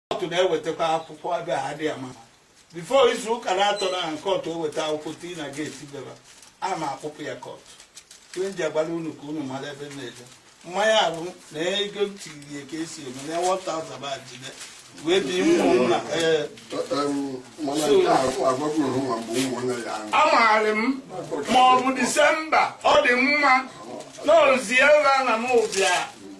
kọtụ na-ewetakwa akwụkwọ ebe a dị ama bifo izu ụka na-atọ na aha kọtụ eweta akwụkwọ tii na geeti beba a ma akpụpụ ya kọtụ ihe m ji agwara unu ka unu mara ebe m na-eje mmanya ahụ na ego m tiri ya ka esi eme na 1000 ba jide wee bi ụmụ m na ee mana nke a agwagoro nwa mgbe ụmụnne ya ahụ amaghị m ma ọ bụ disemba adị m anụzi ebe a na m ụbịa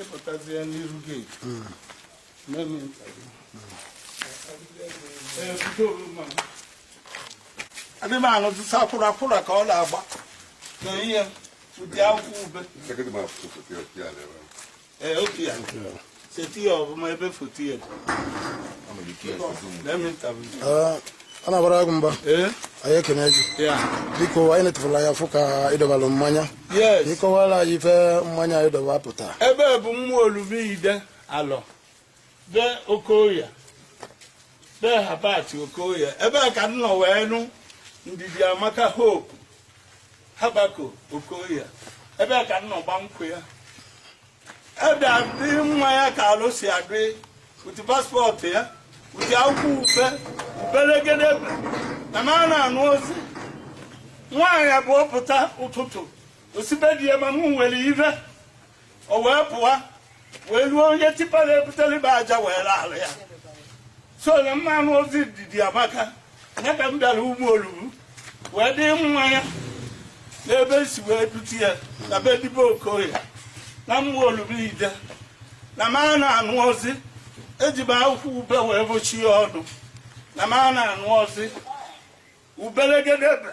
ịpụtazie n'iru geeti adị m anụzi sọ akwụrakwụra ka ọ na-agba na ihe ụdị akwụkwọ ube Ee, otu ya. Seti ya ọfụma ebe foto ya. Let me interview. Ah, a na-agbara agụ mba Ee? anyị ekene gị Ya. biko anyị netụfụrụ anya fụ ka ị dọbalụ mmanya Yes. ịkọwara anyị ife mmanya a ị dọba pụta Ebe a bụ Ụmụolum Ide Alọ. be okoye be habat okoye ebe a ka m nọ wee nụ ndidi amaka hope habako okoye ebe a ka m nọ gba nkwụ ya ebe adị mmanya ka alọ si adị m tii paspọtụ ya m tii akwụkwọ ube ubelegede na m a na-anụzi nwaanyị a bụ ọ pụta ụtụtụ o si be di ya ma m nwere ive o wee pụwa wee ruo onye tipa na-ebutere m aja wee laala ya so na m ma anụzi ndidi amaka ya ka m bịara ụmụolum wee dị mmanya n'ebe m si wee dute ya na be dibe okoye na ụmụolum ide na m a na-anụzi eji m akwụkwọ ube wee bochie ọnụ na m a na-anụzi ubelegedebe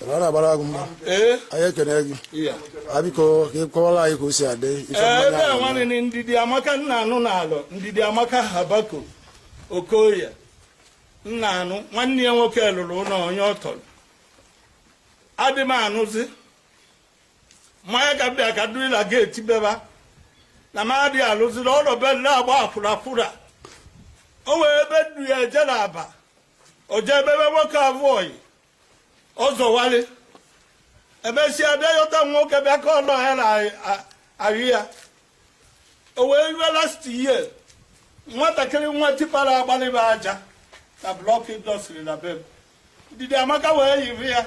a na-agbara agụ mba ee anyị ekene gị ya a biko ka ị kọwara anyị ka o si adị ife ee mmanya ebe a ahụ. nwanne ndidi amaka m na-anụ n'alọ ndidi amaka habako okoye m na-anụ nwanne ya nwoke lụrụ ụlọ onye ọ tọrọ adị m anụzi mmanya ka m bịa ka m dịrị na geeti beba na m adịghị alụzi na ọ nọ be m na-agba akwụrakwụra o nwee ebe m du ya eje na aba o jee bebe nwoke a bụ ọyị ọzọwalị emesịa bịa yọta nwoke bịa ka ọnụ ya na ahụ ya o wee rue last year nwatakịrị nwe tipa na-agbalị m aja na blọk indọstrị na be m ndidi amaka wee yiri ya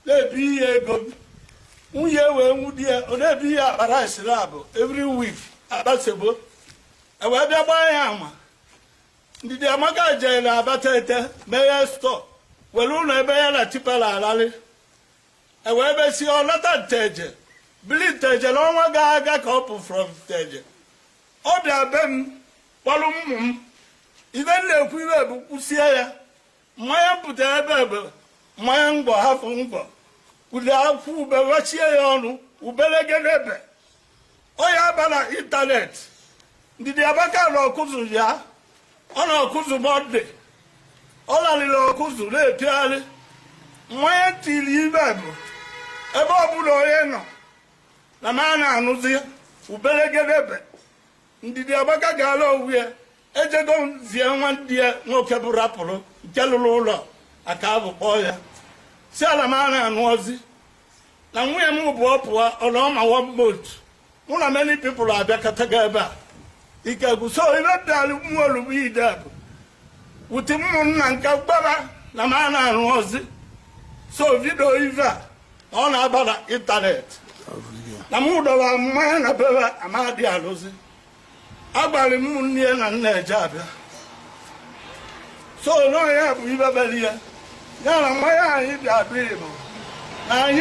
na-ebunye ego m nwunye wee nwude ya ọ na-ebunye akpa rice naabọ every week akpa semo e wee bịa gbaa ya ama Ndidi Amaka jere Abatete meghe stọọ were ụlọ ebe ya na Chipela alalị ewee mesie ọ nata Nteje bili Nteje n'ọnwa gara aga ka ọ pụ from Nteje ọ bịa be m kpọrọ ụmụ m ive m na-ekwu ibe bụ kwụsie ya nwanya pụta ebe ebe nwanya mgbọ hafụ mgbọ kwuli akwụ ube wechie ya ọnụ ubelegedebe ọ ya-aba na ịntanetị Ndidi Amaka na Ọkụzụ ya ọ na Ọkụzụ Mọnde ọ laliri Ọkụzụ na-epiagharị nwanya tiri ibe bụ ebe ọbụla onye nọ na m a na-anụzi ubelegedebe Ndidi Amaka ga-ala onwe ya ejego m zie nwanne ya nwoke bụ rapụrụ nke lụrụ ụlọ aka abụ kpọọ ya si ala m a na-anụ ozi na nwunye m bụ ọ pụọ ọ nọọ ma one month mụ na many people abịakọtago ebe a ike gwụ so ive dịalụ mmụọ olugbu ide a bụ wuti ụmụnna nke gbara na m a na-anụ ozi so vidio ive a na ọ na-aba na ịntanetị na m dọrọ nwanya na bebe amadị alụzi agbalị m nne ya na nna eje abịa so na ọ ya bụ ive mere ya ya na nwanya anyị bịa bịa bụ na anyị